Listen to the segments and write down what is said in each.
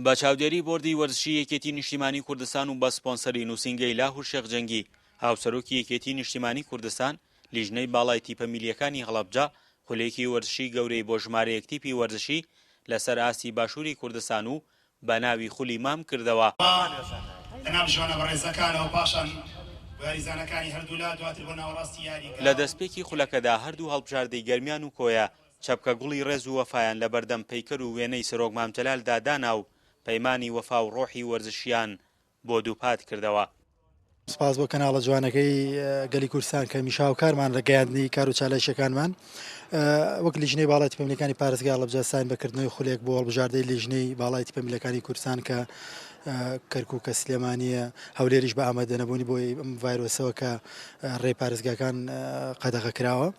بە چاودێری بۆردی وەرزشی یەکێتی نیشتیمانی کوردستان و بە سپۆنسەری نووسینگەی لاهور شێخ جەنگی، هاوسەرۆکی یەکێتی نیشتیمانی کوردستان، لیژنەی باڵای تیپە میلییەکانی هەڵەبجە خولێکی وەرزشی گەورەی بۆ ژمارەیەک تیپی وەرزشی لەسەر ئاستی باشووری کوردستان و بە ناوی خولی مام کردەوە. لە دەستپێکی خولەکەدا هەردوو هەڵبژاردەی گەرمیان و کۆیە چەپکە گوڵی ڕێز و وەفایان لە بەردەم پەیکەر و وێنەی سەرۆک مام جەلال دا دانا و پەیمانی وەفا و ڕۆحی وەرزشییان بۆ دووپات کردەوە. سپاس بۆ کەناڵە جوانەکەی گەلی کوردستان کە هەمیشە هاوکارمانە لە گەیاندنی کار و چالاکییەکانمان. وەک لیژنەی باڵای تیپە ملیەکانی پارێزگا ئاڵەبجە ستاین بە کردنەوەی خولێک بۆ هەڵبژاردەی لیژنەی باڵای تیپە ملیەکانی کوردستان کە کەرکووکە، سلێمانییە، هەولێریش بە ئامادەنەبوونی بۆ ئەم ڤایرۆسەوە کە ڕێی پارێزگاکان قەدەغە کراوە.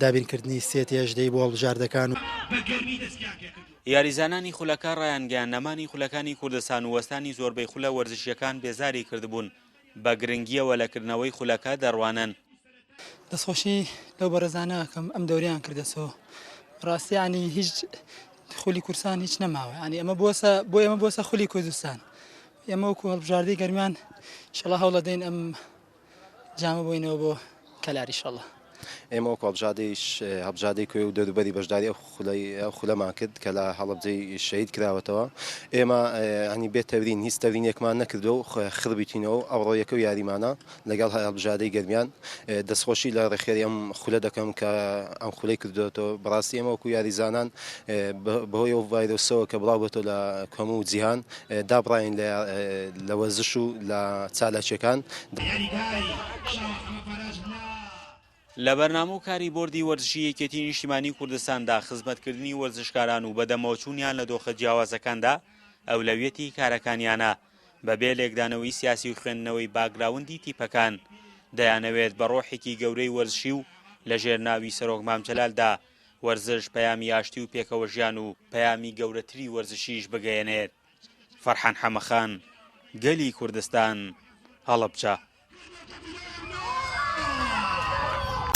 دابینکردنی سێتی ئەژدەی بۆ هەڵبژاردەکان و بە گەرمی دەستیان پێ کردووە. یاریزانانی خولەکە ڕایانگەیاند نەمانی خولەکانی کوردستان و وەستانی زۆربەی خولە وەرزشییەکان بێزاری کردبوون، بە گرنگییەوە لە کردنەوەی خولەکە دەڕوانن. دەستخۆشی لەو بەڕێزانە ئەکەم ئەم دەورەیان کردە سۆ ڕاستی یانی هیچ خولی کورسان هیچ نەماوە یانی ئەمە بۆسە بۆ ئێمە بۆسە خولی کوردستان ئێمە وەکو هەڵبژاردەی گەرمیان شڵە هەوڵەدەین ئەم جامە بۆینەوە بۆ کەلاری شەڵە. ئێمە وەکو هەڵبژادەیش هەڵبژادەی کوێ و دەوروبەری بەشداری ئەو خولەی ئەو خولەمان کرد کە لە هەڵبجەی شەید کراوەتەوە ئێمە ئەنی بێ تەورین هیچ تەورینێکمان نەکردو و خڕبیتینەوە و ئەوڕۆ یەکە و یاریمانە لەگەڵ هەڵبژادەی گەرمیان دەستخۆشی لە ڕێخێری ئەم خولە دەکەم کە ئەم خولەی کردوێتەوە بڕاستی ئێمە وەکو یاریزانان بەهۆی ئەو ڤایرۆسەوە کە بڵاو بێتەوە لە هەموو جیهان دابڕاین لە وەرزش و لە چالاکیەکان. لە بەرنامە و کاری بۆردی وەرزشی یەکێتی نیشتیمانی کوردستاندا خزمەتکردنی وەرزشکاران و بەدەمەوە چوونیان لە دۆخە جیاوازەکاندا ئەولەویەتی کارەکانیانە، بەبێ لێکدانەوەی سیاسی و خوێندنەوەی باکگراوندی تیپەکان دەیانەوێت بە ڕۆحێکی گەورەی وەرزشی و لەژێر ناوی سەرۆک مام جەلالدا وەرزش پەیامی ئاشتی و پێکەوەژیان و پەیامی گەورەتری وەرزشیش بگەیەنێت فەرحان حەمەخان گەلی کوردستان هەڵەبجە.